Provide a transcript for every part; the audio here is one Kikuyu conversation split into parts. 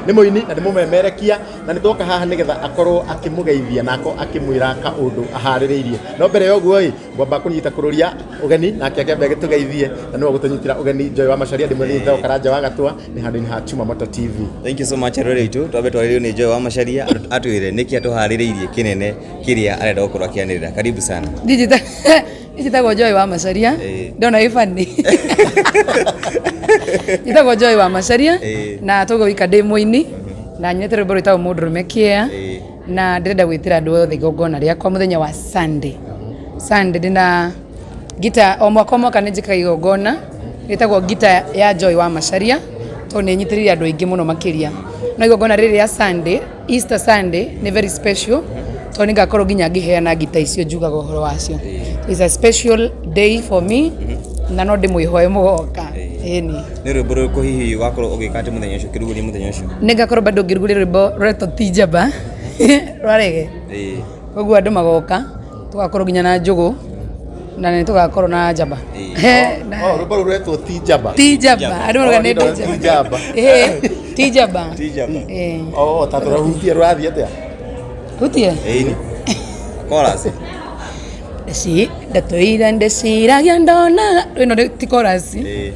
nĩ mũini na nĩ mũmemerekia na nĩ twoka haha nĩ getha akorwo akĩmũgeithia na akorwo akĩmwĩra kaũndũ aharĩrĩirie no mbere ya ũguo ĩ ngwamba kũnyita kũrũria ũgeni nake akĩambe agĩtũgeithie na nĩwe gũtũnyitĩra ũgeni Joy wa Macharia ndĩmwe nĩ Theo Karanja wa Gatwa nĩ handũ-inĩ ha Chuma Moto TV Thank you so much rũrĩrĩ itũ twambe twarĩrĩo nĩ Joy wa Macharia atwĩre nĩkĩ atũharĩrĩirie kĩnene kĩrĩa arenda gũkorwo akĩanĩrĩra karibu sana Digital. njĩtagwo njoĩ wa macaria Ĩĩ. ndona ĩ bani njĩtagwo njoĩ wa macaria Ĩĩ. na tũgwo wika ndĩ mũini na nyuĩte rwĩmbo rwĩtagwo mũndũrũme kĩea Ĩĩ. na ndĩrenda gwĩtĩra andũ othe igongona rĩakwa mũthenya wa sunday sunday ndĩna ngita o mwaka o mwaka nĩ njĩkaga igongona rĩtagwo ngita ya joy wa macaria tondũ nĩ nyitĩrĩire andũ aingĩ mũno makĩria no igongona rĩrĩ rĩa sunday Easter Sunday nĩ very special tondũ nĩngakorwo nginya ngĩheana ngita icio njugaga ũhoro wacio is a special day for me na no ndĩmwĩhoe mũgoka ĩni nä rwä mbo rå kå hihi wakorwo å gä ka atä må thenya å cio kä ruguria må thenya å cio nĩngakorwo bado ngĩruguria rwĩmbo rwetwo ti njamba rwa rege Ĩĩ. koguo andũ magoka Tũgakorwo nginya na njũgũ na nĩ tũgakorwo na njamba. He, na- Oh, rwĩmbo rũu rwetwo ti njamba Ti njamba, andũ mauga nĩ Ti njamba. njamba. Eh, Ti njamba. Tijaba. Eh, Oh, ta tũrahutia rũrathiĩ atĩa Hutie. Ĩni. Chorus. Ndeci, ndatũira ndeciragia ndonaga. Ĩno nĩ- ti chorus. Ĩĩ.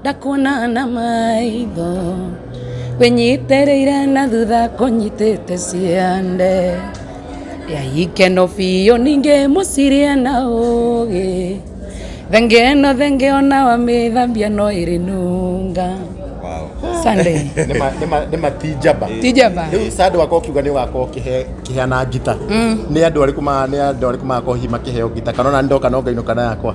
ndakuona na maitho wĩnyitĩrĩire na thutha kũnyitĩte ciande ya ikeno biũ ningĩ mũciria na ũgĩ thenge ĩno thenge ona wamĩthambia no ĩrĩ nunga Sunday Nĩ ma- nĩ ma- nĩ matinjamba tijaba rĩu sandå wakwa kiuga nä wakorwo kĩheana ngita nä andå arä kå nä andå arä kå magakorwo hihi makĩheo ngita kana ona ndoka no ngainå kana yakwa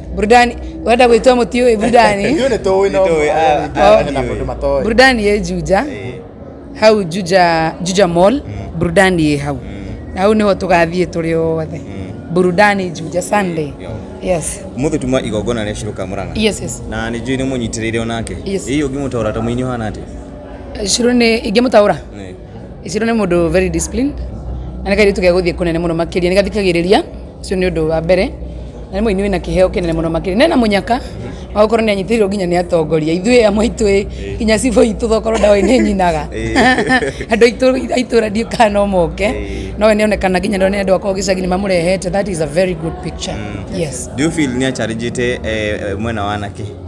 burudani wenda gwĩtua mũtiũĩ burudani Ithuĩ nĩ tũĩ no Nĩtũĩ, ah, ah, ah, na nĩtũĩ. mũndũ matoĩ. burudani ĩ juja Eh, hau juja juja mall burudani ĩ hau na hau nĩho tũgathiĩ tũrĩ othe burudani juja sunday yo. yes Mũthĩ tuma igongona rĩa Shirũ Kamũrang'a. yes yes Na nĩ njũĩ nĩ mũnyitĩrĩire onake. Yes. Ĩĩ ũngĩmũtaũra ta mũini ũhana atĩa? shiro nĩ ingĩmũtaũra Eh. Ici nĩ mũndũ very disciplined na nĩ kairĩtu gegũthiĩ kũnene mũno makĩria nĩ gathikagĩrĩria ũcio nĩ ũndũ wa mbere na nĩ mũini wĩna kĩheo kĩnene mũno makĩria nena mũnyaka wa gũkorwo nĩ anyitĩrĩirwo nginya nĩ atongoria ithuĩ amwe aitũ ĩ nginya cibũ itũ thokorwo ndawa nĩ nyinaga andũ aitũ a itũra ndiũ kana no moke no we nĩ onekana nginya nĩ andũ akorwo gĩcagi nĩ mamũrehete that is a very good picture yes Do you feel nĩ acharĩnjĩte mwena wa anake?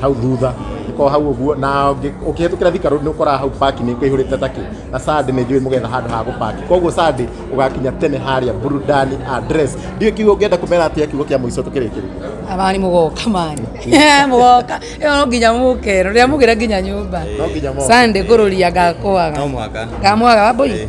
hau thutha ko hau guo na ukihetukira thikaru ni ukora hau park ni kuihurite taki na sadi ni njui mugetha handu ha gupaki koguo sadi ugakinya tene haria burudani address ndio kiugo ungienda kumera atia kiugo kia muico tukirikiri abani mugoka mani mugoka yo nginya mukero ria mugira nginya nyumba no nginya mo sande kururia ngakwaga no mwaka ngamwaga waboi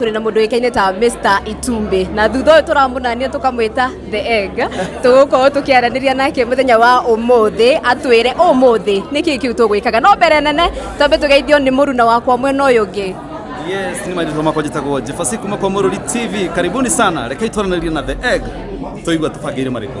tũrĩ na mũndũ wĩkaine ta Mr. Itumbĩ na thutha ũyũ tũramũnania tũkamwĩta The Egg tũgũkorwo tũkĩaranĩria nake mũthenya wa ũmũthĩ atwĩre ũmũthĩ nĩ kĩĩ kĩu tũgwĩkaga no mbere nene twambe tũgeithio nĩ mũruna wakwa mwena ũyũ ũngĩ Yes, ni maitho makwa njĩtagwo Jefasi kuma kwa Mũrũri TV. Karibuni sana. Rekei twaranĩrie na The Egg. Tũigua tũbangĩire marĩkũ.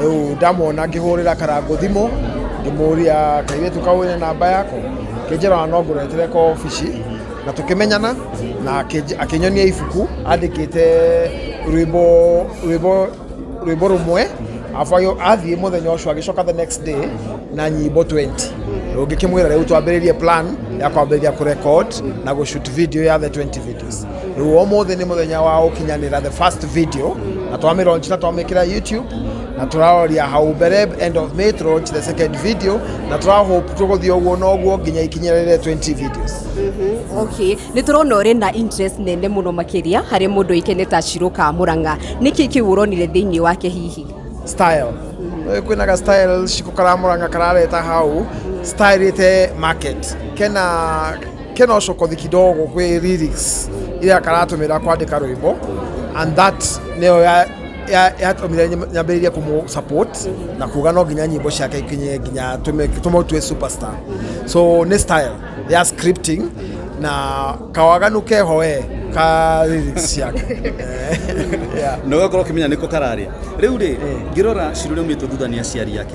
rĩu ndamwona ngĩhũrĩra karangũ thimũ ngĩmũria kairĩtu kau ĩna namba yako kĩnjĩra no ngũretere kwa obici na tũkĩmenyana na akĩnj- akĩnyonia ibuku andĩkĩte rwĩmbo rwĩmbo rwĩmbo rũmwe afu agĩ- athiĩ mũthenya ũcio agĩcoka the next day na nyimbo 20 rũngĩkĩmwĩra rĩu twambĩrĩrie plan ya kwambĩrĩria kũrecord na gũshoot video ya the 20 video Awards rĩu ũmũthĩ nĩ mũthenya wa gũkinyanĩra the first video na twamĩ launch na twamĩkĩra YouTube na tũraroria hau mbere end of May to launch the second video na tũra hope tũgũthiĩ ũguo na ũguo nginya ikinyĩrĩre 20 videos okay nä tå rona å rä na interest nene må no makä ria harä må ndå ikene ta cirå ka må ranga nä kä kä å ronire thä inä wake hihi style Rĩu kwĩna ga style ciko karamũranga karareta hau style ĩte market kena Ken ocokothi kidogo kwĩ lyrics iria karatũmĩra kwandĩka rwĩmbo and that nĩyo ya- ya- yatũmire nyam- nyambĩrĩrie kũmũ support na kuga no nginya nyĩmbo ciake ikinye nginya tũme- tũmũtue superstar so nĩ style ya scripting na kawaganu keho we ka lyrics ciake yeah. na ũgakorwo ũkĩmenya nĩko kararĩa rĩu rĩ ngĩrora cirũ rĩaumĩtwo thutha nĩ aciari ake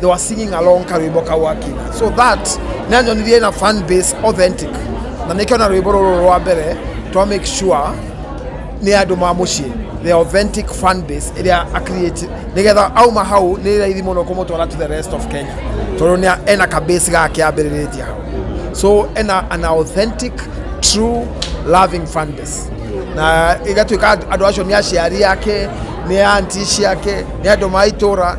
they were singing along karwimbo kau akina so that nĩanyonirie na fan base authentic na nĩkĩo na rwĩmbo rũrũ rwa mbere twa make sure nĩ andũ ma mũciĩ the authentic fan base ĩrĩa acreate nĩgetha auma hau nĩ raithi mũno kũmũtwara to the rest of kenya tondũ nĩ ena ka base gake ambĩrĩrĩtie hau so ena an authentic true loving fan base na igatuĩka andũ acio nĩ aciari ake nĩ anti ciake nĩ andũ ma itũra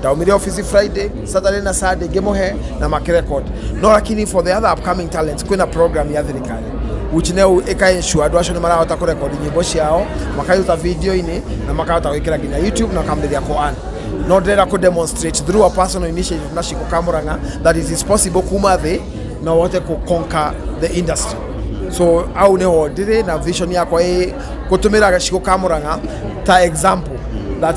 ndaumire office friday saturday na sunday ngimuhe na makirecord no lakini for the other upcoming talents kwina program ya thirikari which now ika ensure andu acio ni marahota ku record nyimbo ciao makaruta video-ini na makahota gwikira nginya youtube na kamberia ku earn no ndĩrenda ku demonstrate through a personal initiative na ciko kamuranga that it is possible kuma thĩ na wote ku conquer the industry so au niho ndĩrĩ na vision yakwa ĩ gũtũmĩra gaciko kamuranga ta example that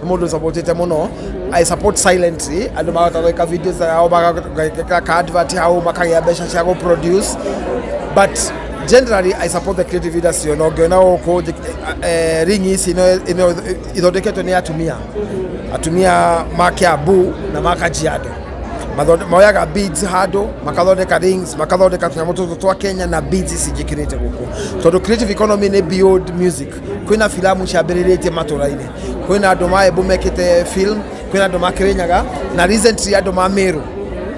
nĩ mũndũ supportĩte mũno i support silently andũ makahota gwĩka videos yao magagĩka ka advert hau makagĩa mbeca cia gũ produce but generally i support the creative industry ona ũngĩona gũkũ njĩ- eh, ring ici ino- ino- ithondeketwe nĩ atumia atumia ma Kiambu na ma Kajiado Mathonde- moyaga beads handũ makathondeka rings makathondeka tũnyamũ tũtũ twa Kenya na beads ici njĩkĩrĩte gũkũ tondũ creative economy nĩ beyond music kwina filamu ciambĩrĩrĩtie matũra-inĩ kwina andũ maembu mekĩte film kwina andũ ma kĩrĩnyaga na recently andũ ma mĩrũ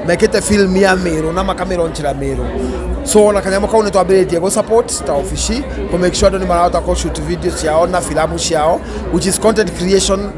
mekĩte film ya mĩrũ na makamĩronjĩra mĩrũ so ona kanyamũ kau nĩ twambĩrĩtie gũ support ta obici kũ make sure andũ nĩ marahota kũ shoot video ciao na filamu ciao which is content creation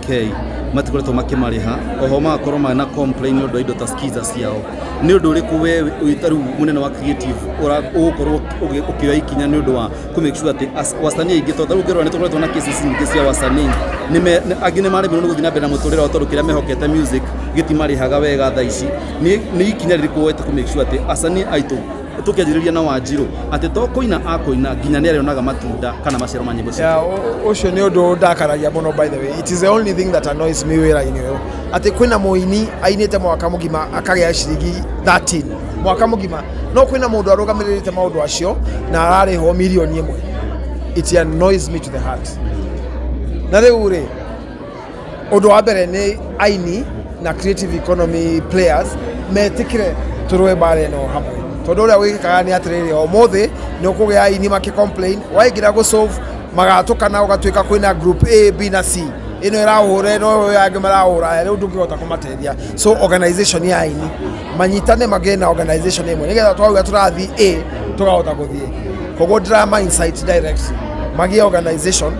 K matikoretwo makimarĩha oho magakorwo mana complain nĩ ũndũ wa indo ta skiza ciao nĩ ũndũ ũrĩkũ we wĩta rĩu mũnene wa creative ũra- ũgũkorwo ũgĩ- ũkĩoya ikinya nĩ ũndũ wa kũ make sure atĩ as- wasanii aingĩ tondũ rĩu ngĩrora nĩ tũkoretwo na cases nyingĩ cia wasanii Nĩ me- nĩ- angĩ nĩ maremirwo nĩ gũthiĩ na mbere na mũtũrĩre wao tondũ kĩrĩa mehokete music gĩtimarĩhaga wega thaa ici Nĩ- nĩ ikinya rĩrĩkũ woete kũ make sure atĩ asanii aitũ tũkĩanjĩrĩria na wanjirũ atĩ to kũina akũina nginya nĩ arĩonaga matunda kana maciaro ma nyĩmbo Yeah, ũ- ũcio nĩ ũndũ ndakaragia mũno by the way it is the only thing that annoys me wĩra-inĩ ũyũ atĩ kwĩna mũini ainĩte mwaka mũgima akagĩa ciringi 13 mwaka mũgima no kwĩna mũndũ arũgamĩrĩrĩte maũndũ acio na ararĩhwo mirioni ĩmwe it annoys me to the heart na rĩu rĩ Ũndũ wa mbere nĩ aini na creative economy players metikire turwe mbara ĩno hamwe tondu uria gwikikaga ni atiriri umuthi ni ukugia aini maki complain waingira gu solve magatukana ugatuika kwina group A B na C ino irahura ino uyu angi marahura riu ndungihota kumatethia so organization ya aini manyitane magie na organization imwe nigetha twauga turathi A tukahota guthie koguo drama insight direct magie organization